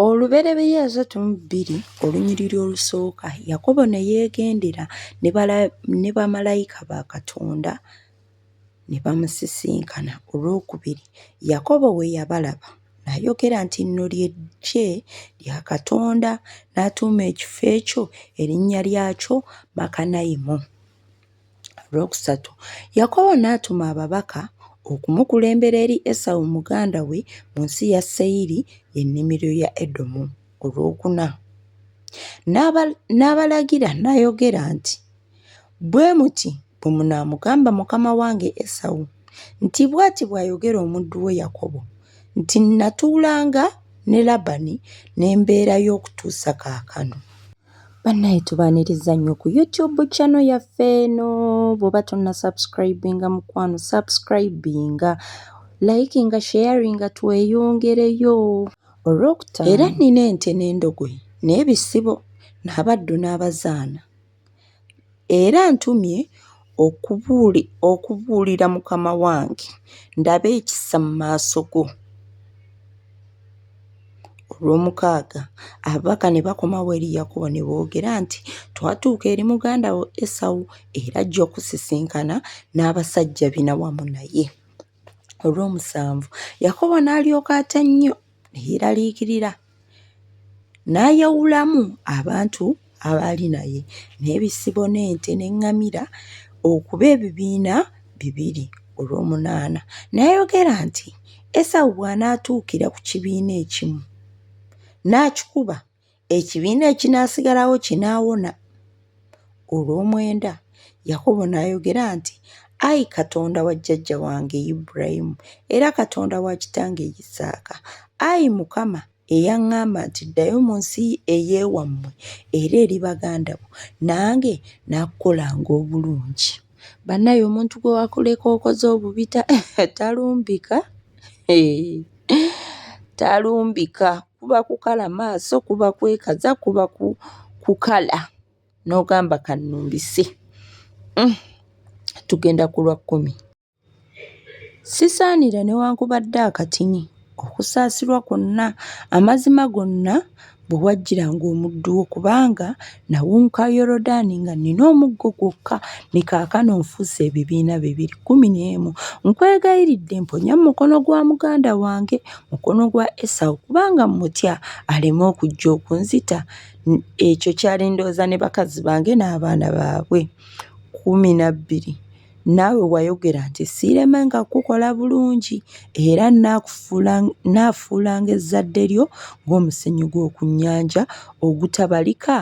Olubereberye asatu mu bbiri olunyiriri olusooka Yakobo ne yeegendera ne bamalayika ba Katonda ne bamusisinkana. Olw'okubiri Yakobo bwe yabalaba n'ayogera nti lino lye ggye lya Katonda n'atuuma ekifo ekyo erinnya lyakyo Makanayimu. Olwokusatu, Yakobo n'atuma ababaka okumukulembera eri Esawu muganda we mu nsi ya Seyiri, ennimiro ya Edomu. Olwokuna, n'abalagira n'ayogera nti, Bwe muti bwe munaamugamba mukama wange Esawu nti, Bw'ati bw'ayogera omuddu wo Yakobo nti, Nnatuulanga ne Labani ne mbeerayo okutuusa kaakano. Bannaye tubaaniriza nnyo ku YouTube channel yaffe eno bw'oba tonna subscribinga mukwano subscribinga likinga sharinga tweyongereyo olwokutaano era nnina ente n'endogoyi n'ebisibo n'abaddu n'abazaana Era antumye okubuulira mukama wange ndabe ekisa mu maaso go. Olw'omukaaga ababaka ne bakomawo eri Yakobo ne boogera nti, Twatuuka eri muganda wo Esawu era ajja okusisinkana n'abasajja bina wamu naye. Olw'omusanvu Yakobo n'alyoka atya nnyo ne yeeraliikirira. N'ayawulamu abantu abaali naye, n'ebisibo n'ente n'eŋŋamira okuba ebibiina bibiri olw'omunaana. N'ayogera nti, Esawu bw'anaatuukira ku kibiina ekimu, n'akikuba, ekibiina ekinaasigalawo kinaawona. Olw'omwenda, Yakobo n'ayogera nti, Ayi Katonda wa jjajja wange Ibulayimu era Katonda wa kitange Isaaka, ayi Mukama eyaŋŋamba nti ddayo mu nsi ey'ewammwe era eri baganda bo, nange nakukolanga obulungi. Banaye omuntu gwe wakuleka okoze obubi talumbika talumbika kuba kukala maaso kuba kwekaza kuba kukala n'ogamba kannumbise mm. tugenda ku lwa kkumi. Sisaanira newankubadde akatini okusaasirwa kwonna, amazima gonna bwe wajjiranga omuddu wo, kubanga nawunguka Yoludaani nga nnina omuggo gwokka, ne kaakano nfuuse ebibiina bibiri kkumi n'emu. Nkwegayiridde mponya mu mukono gwa muganda wange, mukono gwa Esawu, kubanga mmutya, aleme okujja okunzita. Ekyo kyali ndowooza ne bakazi bange n'abaana baabwe. kkumi na bbiri. Naawe wayogera nti, Siiremanga kukukola bulungi, era nnaafuulanga ezzadde lyo ng'omusenyu gw'oku nnyanja ogutabalika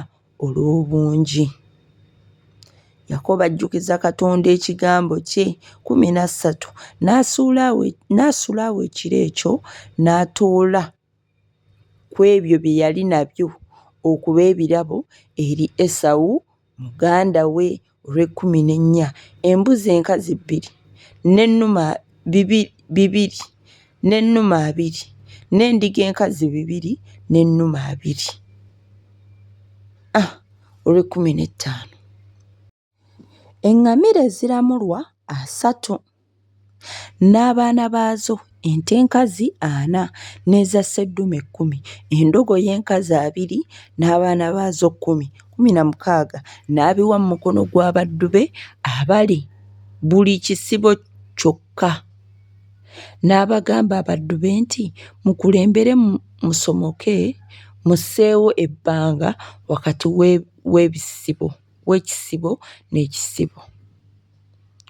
olw'obungi. Yakobo ajjukiza Katonda ekigambo kye, kumi na ssatu, n'asula awo ekiro ekyo n'atoola ku ebyo bye yali nabyo okuba ebirabo eri Esawu muganda we olw'ekkumi n'ennya, embuzi enkazi bbiri, n'ennume bibiri, n'ennume abiri, n'endiga enkazi bibiri, n'ennume abiri. A. Olw'ekkumi n'ettaano. Eŋŋamira eziramulwa asatu n'abaana baazo, ente enkazi ana n'eza sseddume kkumi, endogoyi enkazi abiri n'abaana baazo kkumi, kkumi na mukaaga, n'abiwa mu mukono gw'abaddu be abali buli kisibo kyokka. N'abagamba abaddu be nti, Mukulembere musomoke musseewo ebbanga wakati w'ebisibo. w'ekisibo n'ekisibo.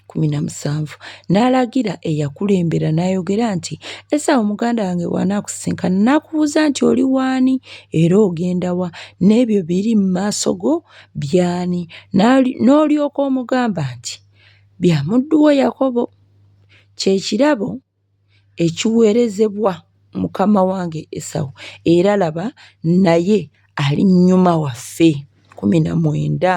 Kkumi na musanvu n'alagira eyakulembera n'ayogera nti esawo muganda wange bw'anaakusisinkana n'akubuuza nti oli waani era ogenda wa n'ebyo biri mu maaso go byani n'olyoka omugamba nti bya muddu wo yakobo kye kirabo ekiweerezebwa mukama wange Esawu, era laba, naye ali nnyuma waffe. kkumi na mwenda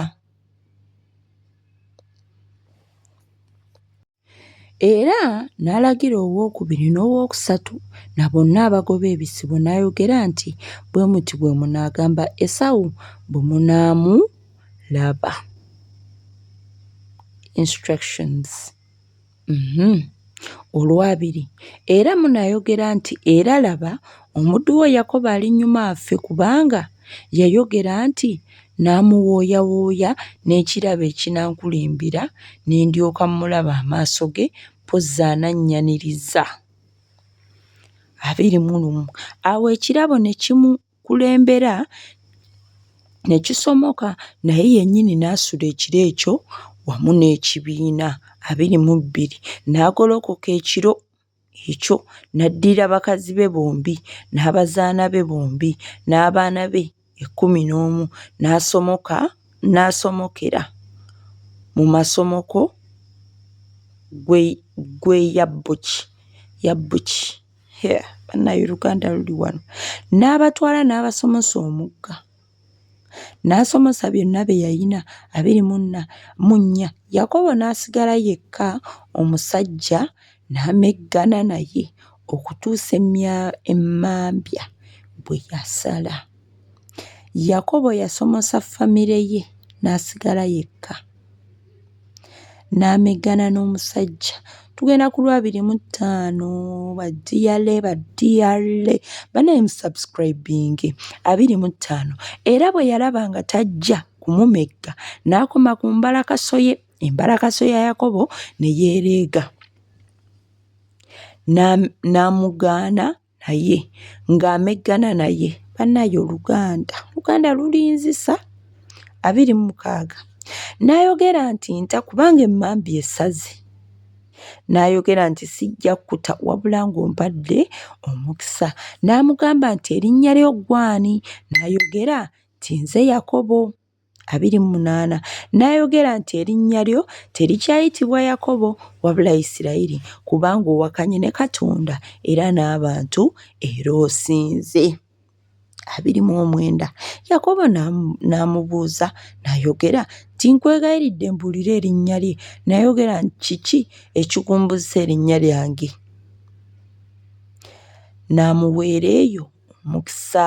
Era n'alagira owookubiri n'owookusatu na bonna abagoba ebisibo n'ayogera nti, Bwe muti bwe munaagamba Esawu bwe munaamulaba. Instructions. Mhm. Olwabiri, era munayogera nti, Era laba, omuddu wo Yakobo ali nnyuma afe, kubanga yayogera nti, Nnaamuwooyawooya n'ekirabo ekinankulimbira, ne ndyoka mmulaba amaaso ge, mpozzi anannyaniriza. Abiri mu lumu. Awo ekirabo ne kimu, kulembera ne kisomoka naye yennyini n'asula ekiro ekyo wamu n'ekibiina abiri mu bbiri. N'agolokoka ekiro ekyo n'addira bakazi be bombi n'abazaana be bombi n'abaana be ekkumi n'omu n'asomoka n'asomokera mu masomoko gwe gwe Yabboki Yabboki. banaye oluganda luli wano n'abatwala n'abasomosa omugga n'asomosa byonna bye yalina abiri munna mu nnya yakobo n'asigala yekka omusajja n'ameggana naye okutuusa emmya emmambya bwe yasala yakobo yasomosa famire ye n'asigala yekka. n'ameggana n'omusajja tugenda ku lwabiri mu ttaano badiyale badiyale banaye musubscribinge abiri mu ttaano era bwe yalaba nga tajja kumumegga n'akoma ku mbalakasoye embalakaso ya yakobo ne yeereega n'amugaana naye ng'ameggana naye banaye oluganda oluganda lulinzisa abiri mu mukaaga n'ayogera nti nta kubanga emmambi esaze n'ayogera nti sijja kukuta wabula ng'ompadde omukisa n'amugamba nti erinnya ly'oggwani n'ayogera nti nze yakobo abiri mu munaana n'ayogera nti erinnya lyo terikyayitibwa Yakobo wabula Isirayiri kubanga owakanye ne Katonda era n'abantu era osinze. abiri mu omwenda Yakobo n'amubuuza n'ayogera nti nkwegayiridde mbuulire erinnya lye n'ayogera nti kiki ekikumbuzisa erinnya lyange n'amuweera eyo omukisa.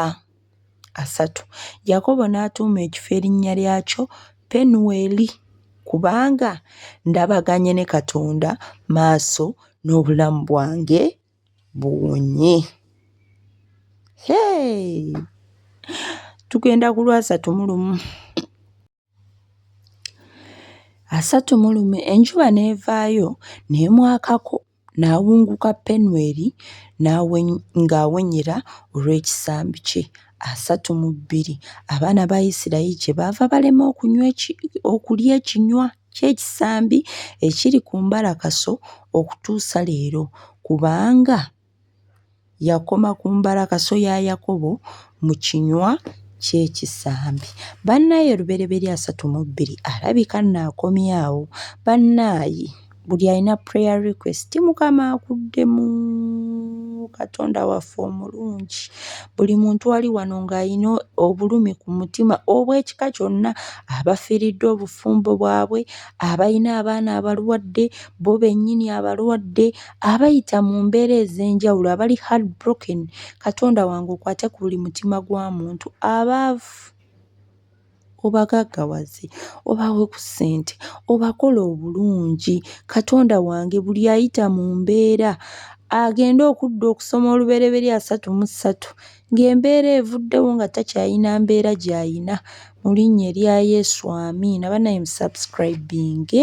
asatu. Yakobo n'atuuma ekifo erinnya lyakyo Penuweli kubanga ndabaganye ne Katonda maaso n'obulamu bwange buwonye. Hey! Tugenda ku lwasatu mu lumu. Asatu mu lumu enjuba n'evaayo n'emwakako n'awunguka Penweri n'aweny ng'awenyera olw'ekisambi kye. Asatu mu bbiri abaana ba Isirayiri kyebaava balema okunywa eki okulya ekinywa ky'ekisambi ekiri ku mbalakaso okutuusa leero kubanga Yakoma ku mbalakaso ya Yakobo mu kinywa ky'ekisambi. Bannaaye Lubereberye asatu mu bbiri alabika nno akomyawo. Bannaaye buli alina prayer request Mukama akuddemu. Katonda waffe omulungi. Buli muntu ali wano ng'alina obulumi ku mutima obw'ekika kyonna abafiiriddwa obufumbo bwabwe, abalina abaana abalwadde, bo bennyini abalwadde. abayita mu mbeera ez'enjawulo abali hard broken katonda wange okwate ku buli mutima gwa muntu abaavu obagaggawaze obawe ku ssente obakola obulungi katonda wange buli ayita mu mbeera agende okudda okusoma olubereberi asatu mu ssatu ng'embeera evuddewo nga takyayina mbeera gy'ayina mu linnya erya yesu amiina banaye musubscribinge